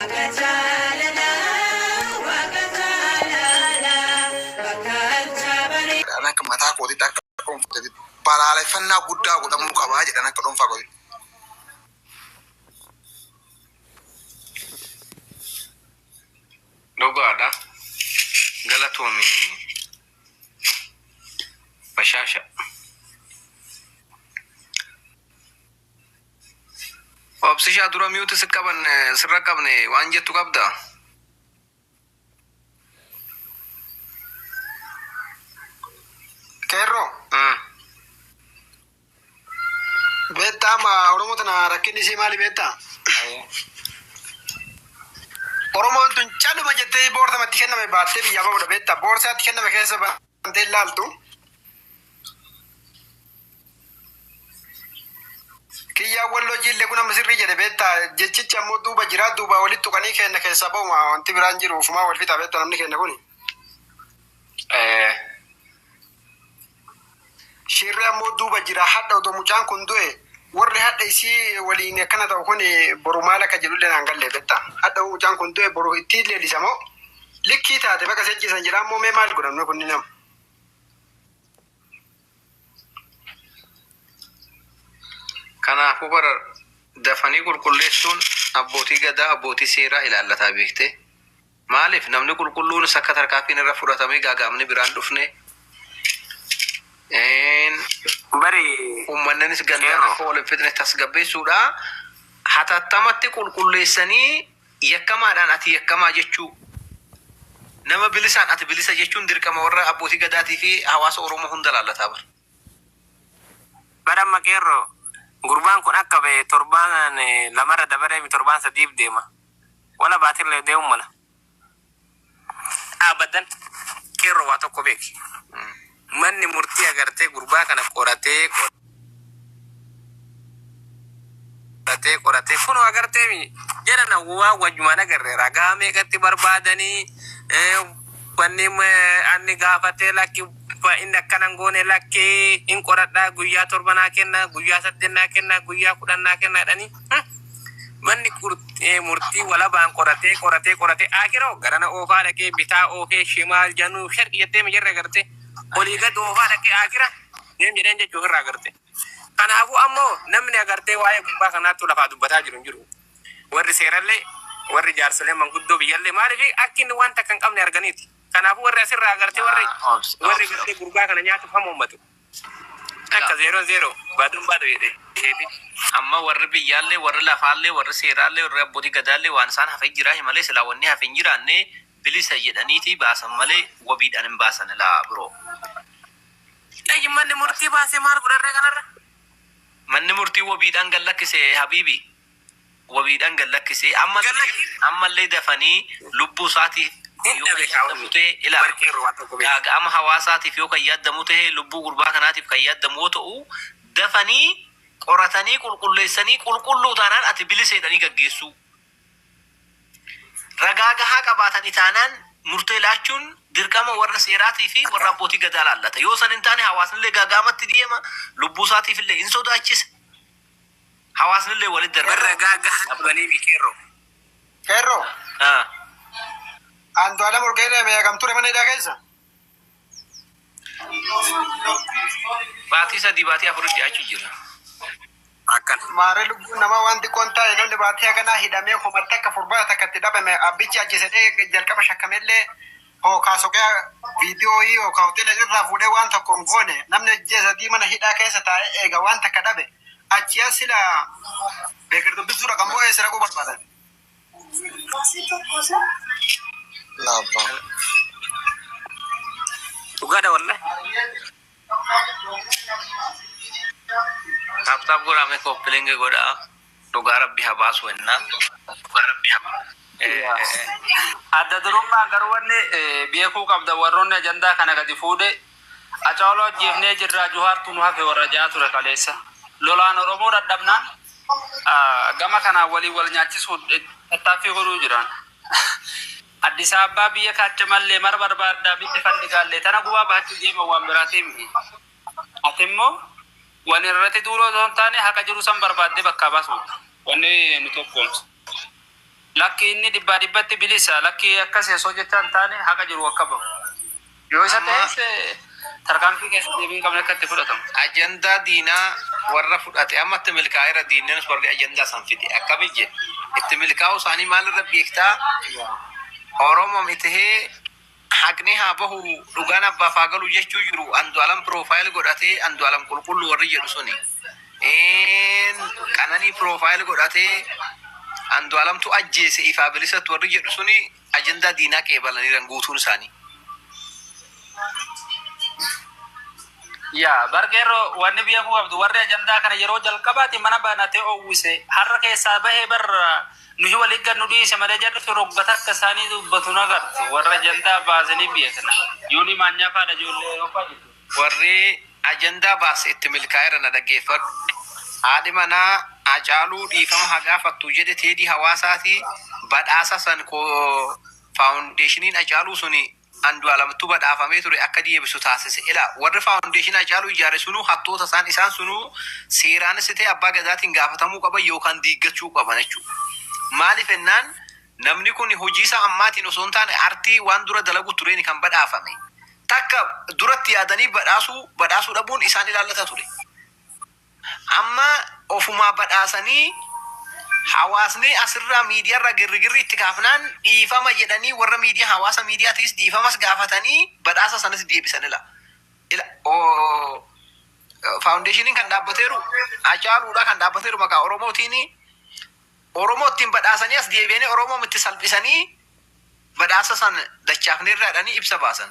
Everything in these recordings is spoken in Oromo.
Waaqa jaalalaa Waaqa jaalalaa bakka alchaa baree. Ani akka mataa kootitti akka dhuunfaatti balaaleffannaa guddaa godhamuu qabaa jedhan akka dhuunfaa kootitti. Dhugaadha. Galatoomi bashaasha. Obsisha dura mute si qaban sirra qabne waan jettu qabda. Qeerroo Mm. beektaa amma Oromoo tana rakkinni isii maali beektaa? Oromoon tun caluma jettee boorsa matti kenname baattee biyyaa bahuudha beektaa? Boorsaatti kenname keessa bantee ilaaltu. Kiyyaan walloo jiille kun amma sirrii jedhe beetta jechichi ammoo duuba jira duubaa walitti tuqanii keenna keessaa ba'uma wanti biraan jiru ofumaa wal fixa beetta namni keenna kuni. Eh. Shirri ammoo duuba jira hadha odoo mucaan kun du'e warri hadha isii waliin akkana ta'u kun boru maal akka jedhullee naan galle beetta hadha mucaan kun du'e boru itti leellisa moo likkii taate baqa sejjisan jedha ammoo mee maal godhan kun nama. Kanaafuu bara dafanii qulqulleessuun abbootii gadaa, abbootii seeraa ilaallataa beektee? Maaliif namni qulqulluunis akka tarkaanfiin irra fudhatamee gaaga'amni biraa hin dhufne? Bari Uummanninis gandaan qeerroo. akka wal hin fixne tasgabbeessuudha. Hatattamatti qulqulleessanii Yakkamaadhaan ati yakkamaa jechuu, nama bilisaan ati bilisa jechuun dirqama warra Abbootii Gadaatii fi hawaasa Oromoo hunda laallata bar. Bar amma Qeerroo, gurbaan kun akka ba'e torbaan lamarra dabareemi torbaan sadiif deema. Walabaatille deemuu mala. Abadan qeerroo waa tokko beeki manni murtii agartee gurbaa kana qoratee qoratee qoratee kunoo agartee mi jedhana waa wajjumaan agarre ragaa meeqatti barbaadanii eh, wanni eh, anni gaafatee lakki ba- inni akkana hin goone lakki hin qoradhaa guyyaa torba naa kenna guyyaa saddeet naa kenna guyyaa kudhan naa kenna jedhanii hmm? Manni murtii walabaan qoratee qoratee qoratee Aakiroo garana oofaa dhaqee bitaa oofee shimaal januu sharqi jettee mijarra gartee olii gad oofaa dhaqee Aakira deem jedheen jechuu ofirraa gartee. Kanaafuu ammoo namni agartee waa'ee gurbaa kanaattuu lafaa dubbataa jiru hin jiru. Warri seerallee warri jaarsoleen manguddoo biyyallee maaliif akki inni waan takka hin qabne arganiiti. Kanaafuu warri asirraa agartee warri warri gartee gurbaa kana nyaatuuf hamoommatu. Takka zeeroo zeeroo baaduun baadu jedhe deebi. Amma warri biyyaallee, warri lafaallee, warri seeraallee, warri abbootii gadaallee waan isaan hafe jiraahi malee silaa wanni hafe hin jiraanne bilisa jedhaniiti baasan malee wabiidhaan hin baasan ilaa bro. Eeyy manni murtii baasee maal godharree kanarra. Manni murtii wabiidhaan gad lakkise habiibi. wabiidhan gad lakkise ammallee dafanii lubbuu isaatiif yoo kan yaaddamu ta'e ilaala gaaga'ama hawaasaatiif yoo kan yaaddamu ta'e lubbuu gurbaa kanaatiif kan yaaddamu yoo ta'u dafanii qoratanii qulqulleessanii qulqulluu taanaan ati bilisa jedhanii gaggeessuu ragaa gahaa qabaatani taanaan murtee laachuun dirqama warra seeraatii fi warra abbootii gadaa laallata yoo san hin taane hawaasnillee gaaga'amatti deema lubbuu isaatiifillee hin sodaachisa Hawaasnillee walitti darbe. Irra ragaa gahaa qabaniifi qeerroo. Qeerroo? Haa. Andualem Urgee Irreemee hagam ture mana hidhaa keessa? Baatii sadii baatii afuritti dhiyaachuu jira. Akkan. Maarree lubbuun namaa waan xiqqoo hin taane namni baatii haganaa hidhamee homattakka furbaata takka itti dhabame abbichi ajjeesedhee jalqaba shakkamellee hookaa soqee viidiyooyii hookaa hoteela irraa fuudhee waan tokko hin goone namni ajjee sadii mana hidhaa keessa taa'ee eega waan takka dhabe achi as sila beekir dubbisuu dhaqan moo eessa dhaquu barbaadan? Dhugaadha wallahi. Taaptaap godhaa mee kooppilingi godhaa. Dhugaa rabbi ha baasu wannaa. Dhugaa rabbi ha baasu. Adda durummaan garuu wanni beekuu qabdan warroonni ajandaa kana gadi fuudhe Acaaluu ajjeefnee jirraa Juhaartu nu hafe warra ja'aa ture kaleessa. Lolaan Oromoo dhadhabnaan gama kanaan waliin wal nyaachisuu tattaaffii godhuu jiran. Addis Ababaa biyya kaacha mallee mara barbaaddaa bitti fandhigaallee tana gubaa bahachuu deeman waan biraatii miti. Ati immoo wal irrati duulu osoo hin taane haqa jiru san barbaaddee bakkaa baasuudha. Wanni nu tokkoomsu. Lakki inni dhibbaa dhibbatti bilisa, lakki akkasi osoo jechaa hin taane haqa jiru akka bahu. Yoo isa ta'es tarkaanfii keessa deebii hin qabne akka itti fudhatamu. Ajandaa diinaa warra fudhate amma itti milkaa'eera diinnis warri ajandaa san fide akkami jedhe itti milkaa'uu isaanii maal irra beektaa? Oromoom itihee Haqni haa bahu dhugaan abbaaf haa galu jechuu jiru Andualam profile godhatee Andualam qulqullu warri jedhu suni Een qananii profile godhatee Andualamtu ajjeese ifaa bilisattu warri jedhu suni ajandaa diinaa qeebalaniiran guutuun isaanii. Yaa bar qeerroo wanni beekuu qabdu warri ajandaa kana yeroo jalqabaati mana banatee owwise har'a keessaa bahee bar Nuyi waliin gad nu dhiise malee jarri rogga takka isaanii dubbatu hin agartu. Warra ajandaa baase ni beekna. Yoonii Maanyaa fa'aadha ijoollee Awurooppaa jechuudha. Warri ajandaa baase itti milkaa'eera na dhaggeeffadhu. Haadhi manaa Hacaaluu dhiifama haa gaafattu jedhe Teedii Hawaasaati. Badhaasa san Faawundeeshiniin Hacaaluu suni Andualamtu badhaafamee ture akka diebisu taasise. Ila warri foundation Hacaaluu ijaare sunuu hattoota isaan isaan sunuu seeraanis ta'e abbaa gadaatiin gaafatamuu qaban yookaan diiggachuu qaban jechuu. Maaliif ennaan namni kun hojii isaa ammaatiin osoo hin taane artii waan dura dalagu tureeni kan badhaafame. Takka duratti yaadanii badhaasuu badhaasuu dhabuun isaan ilaallata ture. Amma ofumaa badhaasanii hawaasni asirraa miidiyaarraa girrigirri itti kaafnaan dhiifama jedhanii warra miidiyaa hawaasa miidiyaatiis dhiifamas gaafatanii badhaasa sanas deebisan ila ila oo faawundeeshiniin kan dhaabbateeru Hacaaluudha kan dhaabbateeru maqaa Oromootiini Oromoo ittiin badhaasanii as deebi'anii Oromoo itti salphisanii badhaasa san dachaafneerraadhanii ibsa baasan.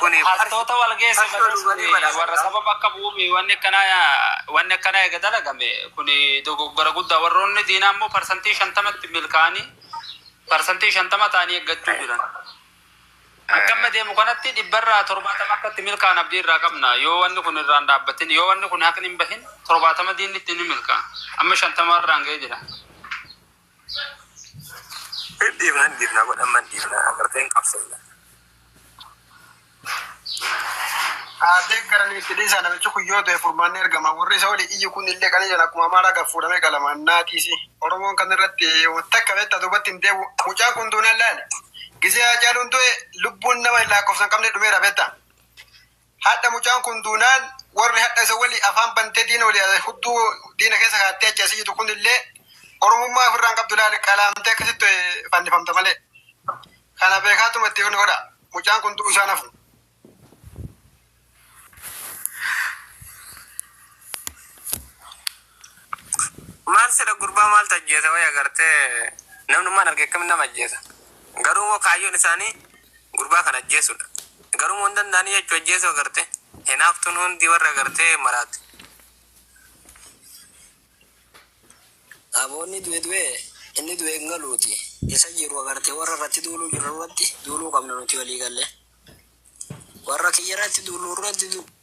Kuni Hattoota wal geesse Farsoo malee dhuganii suni badhaasan warra qabu. saba bakka bu'uu mi wanni akkanaa wanni akkanaa eega dalagame kuni dogoggora guddaa warroonni diinaa immoo parsantii shantamatti milkaa'anii parsantii shantama ta'anii eeggachuu jiran. Akka amma deemu kanatti dhibbarraa torbaatama akka itti milkaa'an abdii irraa qabna yoo wanni kun irraan dhaabbatin yoo wanni kun haqni hin bahin torbaatama diinni itti ni milkaa'a amma shantama irraan ga'ee jira. Hin dhiifna hin dhiifna kun amma hin dhiifna agartee hin qabsofna. Aadee garanii itti dhiisaa namichi kun yoo du'e furmaanni argama. Warri isa olii iyyu kun illee qalii jala akkuma amaaraa gad fuudhamee qalama. Naatiisi. Oromoon kan irratti takka beektaa duubatti hin deebi'u. Mucaan kun duunaan laali. Gisee Haacaaluun du'e lubbuun nama hin laakkofsa hin qabne dhumeera beektaa. Hadha mucaan kun duunaan warri hadha isa wali afaan bantee diina wali hudduu diina keessa kaattee achi asi jitu kun illee oromummaa ofirraan qabdu ilaali qalaamtee akkasitti fannifamta malee. Kana beekaatuma itti hin godha. Mucaan kun du'u isaan hafu. Maal sila gurbaa maaltu ajjeesa waya gartee namnummaan arge akkamitti nama ajjeesa garuu immoo kaayyoon isaanii gurbaa kana ajjeesudha garuu immoo hin danda'anii jechuu ajjeesuu garte hinaaftuun hundi warra gartee maraate. Aboonni du'e du'e inni du'e hin galuuti isa jiru agartee warra irratti duuluu jiru irratti duuluu qabna nuti walii galle warra kiyya irratti duuluu irratti duuluu.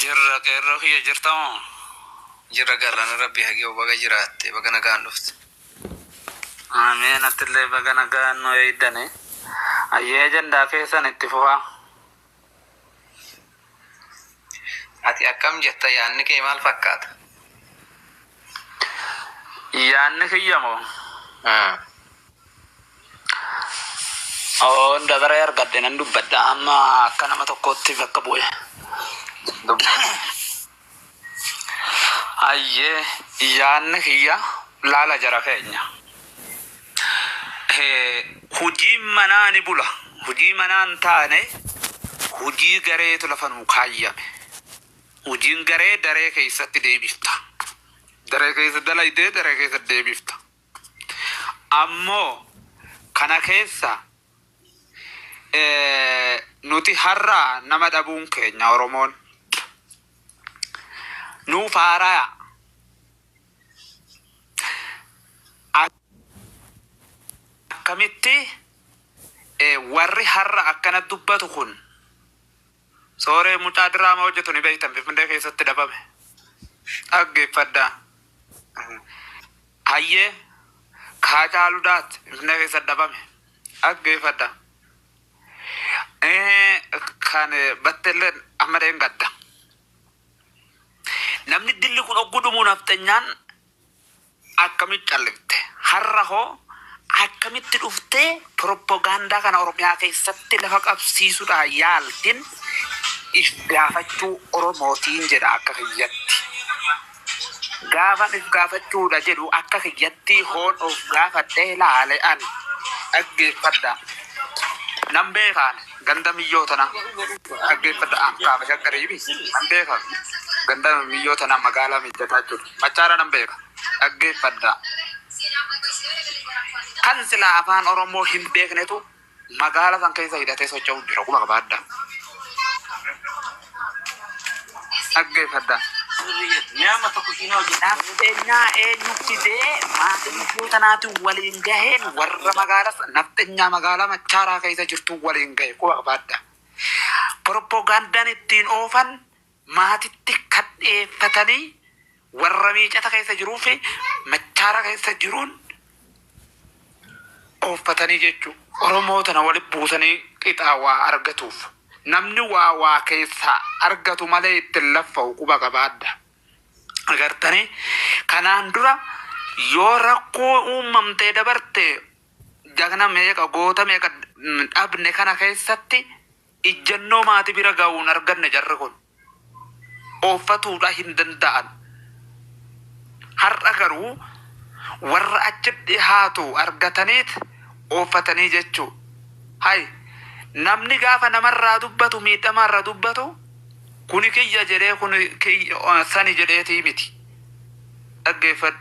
Jirra qeerroo kiyya jirta moo. Jirra galana rabbii hageewu baga jiraatte baga nagaan dhufte. Ameen attillee baga nagaan nu eeydane ayyee ajandaa keessan itti fufaa. Ati akkam jetta yaanni kee maal fakkaata? Yaanni kiyya moo. Oon dabaree argadhe nan dubbadha amma akka nama tokkootti bakka bu'e. Hayyee yaanni kiyya laala jara keenya. Eh, Hojiin manaa ni bula. Hojii manaa hin taane hojii gareetu lafa nuu kaayyame. Hojiin garee daree keessatti deebifta. Daree keessa dalaydee daree keessa deebifta. Ammoo kana keessa nuti har'a nama dhabuun keenya Oromoon nuuf haaraya. Akkamitti warri har'a akkana dubbatu kun Sooree mucaa diraama hojjetu ni beektan Finfinnee keessatti dhabame. Dhaggeeffadhaa. Hayyee kaa caalu daat Finfinnee keessatti dhabame. Dhaggeeffadhaa. Eh, Kan batteellee amma dheengadda. Namni dilli kun ogguu dhumuu nafxanyaan Akkamitti callifte? Har'a hoo akkamitti dhuftee piroppogaandaa kana Oromiyaa keessatti lafa qabsiisuudhaa yaaltin if gaafachuu Oromootiin jedha akka kiyyatti. Gaafan if gaafachuudha jedhu akka kiyyatti hoon of gaafadhee laale ani. Dhaggeeffadhaa. Nan beeka ani. Ganda miyyoo tana dhaggeeffadha an kaaba shaggarii mi nan beeka ganda miyyoo tana magaalaa mijjataa jechuudha machaara nan beeka dhaggeeffadha kan silaa afaan oromoo hin beeknetu magaala san keessa hidhatee socho'u jira quba qabaadha Dhaggeeffadhaa. Nafxenyaa eenyu fidee maanguddoota naatiin waliin gaheen warra magaalas nafxenyaa magaalaa machaaraa keessa jirtuu waliin gahe quba qabaadha. Propogandaan ittiin oofan maatitti kan dhiyeeffatanii Warra miicata keessa jiruu fi machaara keessa jiruun ooffatanii jechuu. Oromoo tana wali buusanii qixaa waa argatuuf. Namni waa waa keessaa argatu malee itti hin laffa'u quba qabaadha. Agartanii? Kanaan dura yoo rakkoo uummamtee dabarte jagna meeqa goota meeqa dhabne kana keessatti Ijjannoo maati bira ga'uun arganne jarri kun ooffatuudha hin danda'an. Har'a garuu warra achi dhihaatu argataniit ooffatanii jechuu. Hay namni gaafa namarraa dubbatu miidhamaarra dubbatu kuni kiyya jedhee kuni sani jedheetii miti. Dhaggeeffadhu.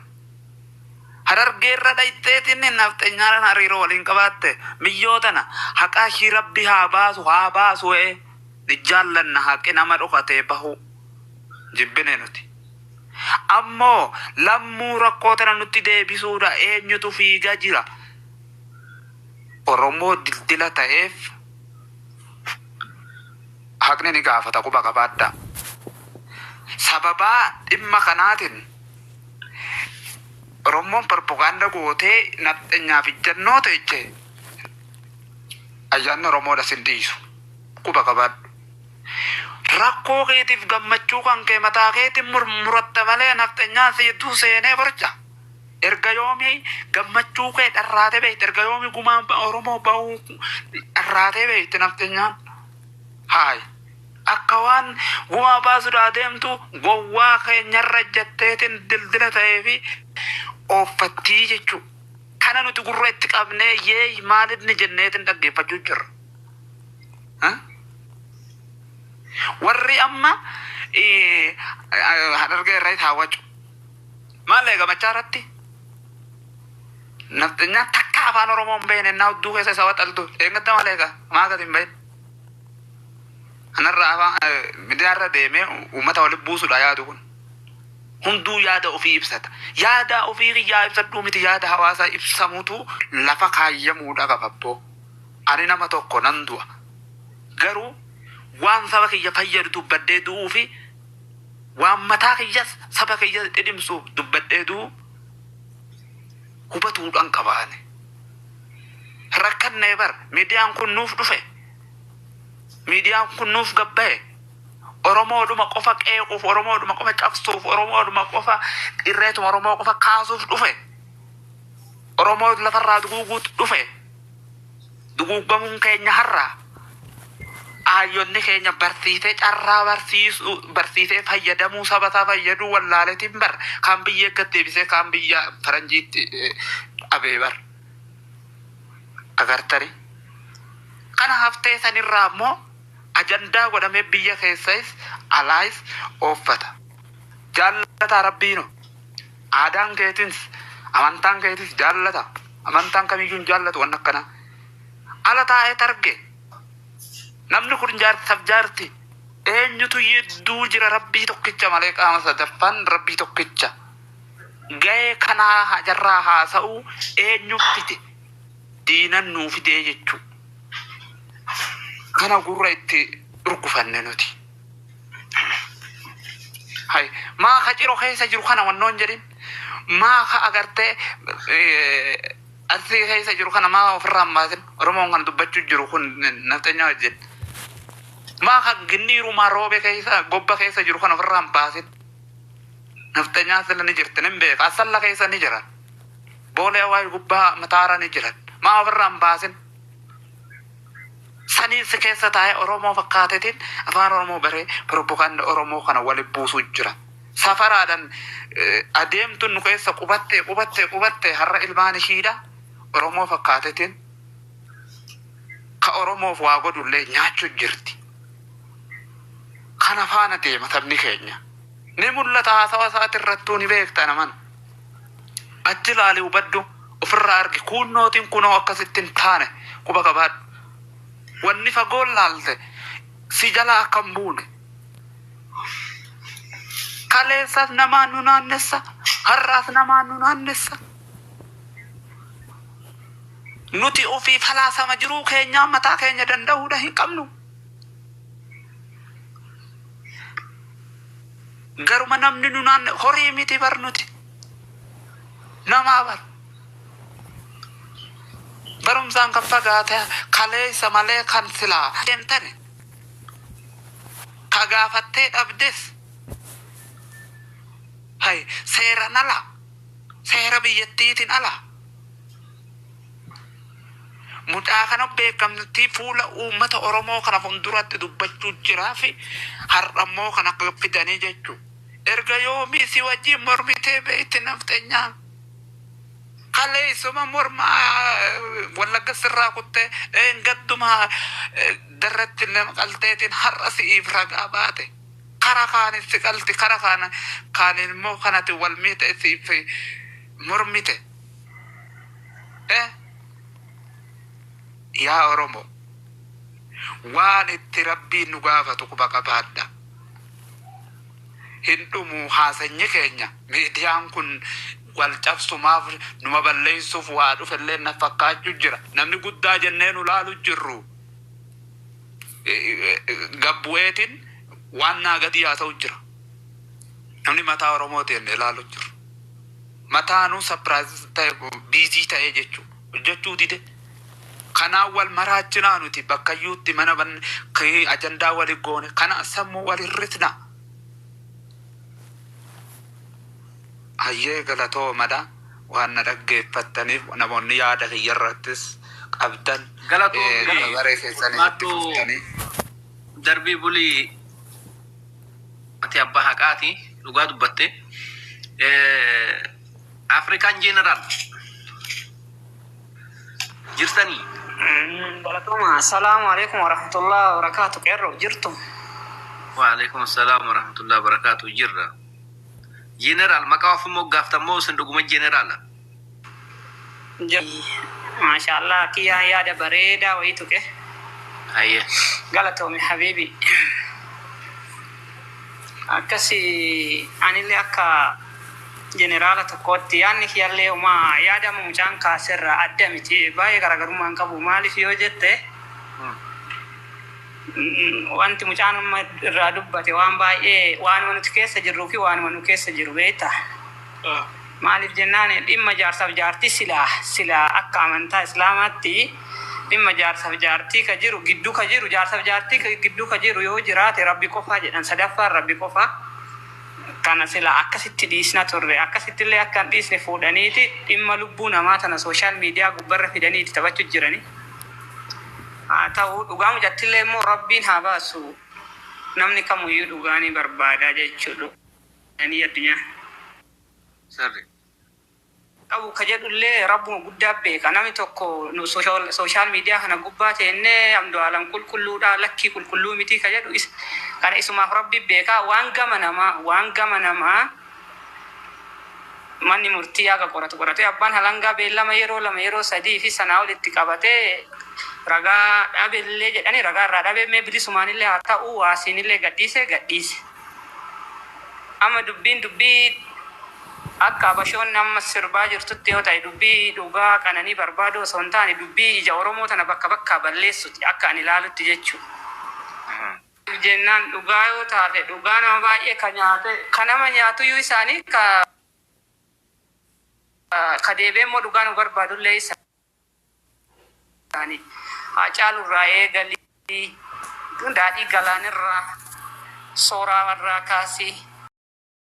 Harargee irra dhayxeetiin nafxenyaadhaan hariiroo waliin qabaatte miyyoo tana haqaa ishii rabbi haa baasu haa baasu ee ni jaallanna haqi nama dhokatee bahuu jibbine nuti ammoo lammuu rakkoo tana nutti deebisuudha eenyutu fiiga jira oromoo dildila ta'eef haqni ni gaafata quba qabaadhaa sababaa dhimma kanaatiin Orommoon propaganda gootee nafxenyaaf ijjannoo teeche ayyaanni Oromoodha sin dhiisu quba qabaadhu. Rakkoo keetiif gammachuu kan kee mataa keetiin murmuratta malee nafxenyaan si jidduu seenee borca. Erga yoomii gammachuu kee dharraatee beekte erga yoomii gumaa Oromoo bahuu dharraatee beekte nafxenyaan. Haay. Akka waan gumaa baasuudhaa deemtu gowwaa keenyarra ejjatteetiin dildila ta'eefi ooffattii jechuu kana nuti gurra itti qabnee yeey maalinni jenneetiin dhaggeeffachuu jirra. Warri amma Harargee irratti haawwachu maal eega machaa irratti nafxenyaa takka afaan Oromoo hin beekne innaa hudduu keessa isa waxaltu eeggatta maal eega maa gad hin bahin. Kanarraa afaan midiyaarra deemee uummata walitti buusudha yaadu kun. Hunduu yaada ofii ibsata. Yaada ofii kiyyaa ibsadhuu miti yaada hawaasaa ibsamutu lafa kaayyamuudha qaba abboo. Ani nama tokko nan du'a. Garuu waan saba kiyya fayyadu dubbadhee du'uu fi waan mataa kiyyas saba kiyya dhidhimsu dubbadhee du'u hubatuudhaan qaba ani. Rakkannee bar midiyaan kun nuuf dhufe. Miidiyaan kun nuuf gad bahe Oromoodhuma qofa qeequuf, Oromoodhuma qofa cabsuuf, Oromoodhuma qofa irreetuma Oromoo qofa kaasuuf dhufe. Oromoo lafarraa duguuguutu dhufe. Duguuggamuun keenya har'a aayyonni keenya barsiisee carraa barsiisuu barsiisee fayyadamuu saba isaa fayyaduu wallaaletiin bar kaan biyya eeggat deebisee kaan biyya faranjiitti eh, dhabee bar. agartani kana haftee sanirraa immoo ajandaa godhamee biyya keessais alaais ooffata jaallataa rabbiino aadaan keetins amantaan keetis jaallata amantaan kamiyyuu hin jaallatu wanna akkana ala taa'ee targe namni kun jaarsaf jaarti eenyutu yidduu jira rabbii tokkicha malee qaama sadaffaan rabbii tokkicha Gahee kanaa hajarraa haasa'uu eenyu fide? Diinan nuu fidee jechuu. Kana gurra itti urgufanne nuti. Hay, maa ka ciro keessa jiru kana wannoon jedhin? Maa ka agartee eh, arsii keessa jiru kana maa ofirraa hin baasin? Oromoon kan dubbachuu jiru kun nafxanyaa wajjin. Maa ka ginniirumaa roobe keessa, gobba keessa jiru kana ofirraa hin baasin? Nafxenyaan sila ni jirti nin beeka assalla keessa ni jiran boolee awaash gubbaa mataara ni jiran maa ofirraa hin baasin saniin si keessa taa'ee oromoo fakkaatetiin afaan oromoo baree propaganda oromoo kana wali buusuu jira safaraadhan adeemtun nu keessa qubattee qubattee qubattee har'a ilmaan ishiidha oromoo fakkaatetiin ka oromoof waa godhullee nyaachuu jirti kana faana deema sabni keenya. Ni mul'ata haasawa isaati irrattuu ni beekta naman. Achi ilaali hubadhu ofirraa argi kuunnootiin kunoo akkasitti hin taane quba qabaadhu. Wanni fagoon laalte si jala akka hin buune. Kaleessas namaan nu naannessa har'aas namaan nu naannessa. Nuti ofii falaasama jiruu keenyaa mataa keenya danda'uudha hin qabnu. Garuma namni nu naan horii miti bar nuti. Namaa bar. Barumsaan kan fagaate kaleessa malee kan silaa deemtani. Ka gaafattee dhabdes. Hay seeran ala. Seera biyyattiitiin ala. Mucaa kana beekamtii fuula uummata Oromoo kana funduratti dubbachuu jiraafi har'ammoo kana akka fidanii jechuu. Erga yoomii si wajjiin mormitee beekti nafxenyaa? Kaleessuma morma Wallagga sirraa kuttee dheengadduma darratti nama qalteetiin har'a si'iif ragaa baate. Kara kaanis si qalti kara kaaniin immoo kan ati wal miite siif mormite. Eh yaa Oromo waan itti Rabbiin nu gaafatu quba qabaadha. Hin dhumu haasanyi keenya miidiyaan kun wal cabsumaaf numa balleessuuf waa dhufellee na fakkaachu jira. Namni guddaa jennee nu laalu jirru gad bu'eetiin waan naa gadii haasa'u jira. Namni mataa Oromooti jennee laalu jirru. Mataanuu surprise ta'e busy ta'e jechu hojjechuu dide kanaan wal maraachinaa nuti bakkayyuutti mana banne kii ajandaa wali goone kanaan sammuu wal hir'isna. Hayyee galatoomadha waan na dhaggeeffattaniif namoonni yaada kiyya irrattis qabdan Galatoomi. eh, dabaree keessanii itti Maattuu fuftanii. darbii bulii. Ati abba haqaati dhugaa dubbatte African general jirtanii. Galatoomaa. Assalaamu alaikum warahmatullahi wabarakaatu. Qeerroo jirtu? Waalaikum assalam warahmatullahi wabarakaatu jirra. General maqaa ofin moggaaftan moo isin dhuguma generala? Jabadhuu Masha Allah kiyaa yaada bareedaa wayii tuqe Haye galatoomi habiibi Akkasi anillee akka jeneraala tokkootti yaadni kiyallee homa yaada amma mucaan kaaserraa adda miti baay'ee garaagarummaa hin qabu maaliif yoo jette wanti mucaan amma irraa dubbate waan baay'ee waanuma nuti keessa jirruu fi waanuma nu keessa jiru beekta. Maaliif jennaan dhimma jaarsaf jaartii silaa silaa akka amantaa islaamaatti dhimma jaarsaf jaartii ka jiru giddu ka jiru jaarsaf jaartii giddu ka jiru yoo jiraate rabbi qofaa jedhan sadaffaan rabbi qofaa kana silaa akkasitti dhiisna turre akkasittillee akka hin dhiisne fuudhaniiti dhimma lubbuu namaa tana social media gubbarra fidanii itti taphachu jirani haa ta'u dhugaa mucattillee immoo rabbiin haa baasu namni kamuyyuu dhugaa ni barbaada jechuudha. Ani addunyaa. sirri. qabu ka jedhu illee Rabbuma guddaa beeka. Nami tokko nu social media kana gubbaa teennee Amdualam qulqulluudhaa lakkii qulqulluu mitii ka jedhu is kana isumaaf Rabbi beeka. Waan gama namaa waan gama namaa manni murtii haga qoratu qoratee abbaan halangaa beellama yeroo lama yeroo sadii fi sanaa ol itti qabatee ragaa dhabe illee jedhanii ragaa irraa dhabee mee bilisumaan illee haa ta'uu waasiin illee gadhiise gadhiise. Amma dubbiin dubbii akka Habashoonni amma sirbaa jirtutti yoo ta'e dubbii dhugaa qananii barbaaduu osoo hin taane dubbii ija Oromoo tana bakka bakkaa balleessuti akka ani ilaalutti jechuu. Maaliif jennaan dhugaa yoo taate dhugaa nama baay'ee ka nyaate ka nama nyaatuyyuu isaanii ka deebi'ee immoo dhugaa nu barbaadullee isaani. isaanii. Haacaaluu irraa eegalii Daadhii Galaanirraa, Sooraa irraa kaasii.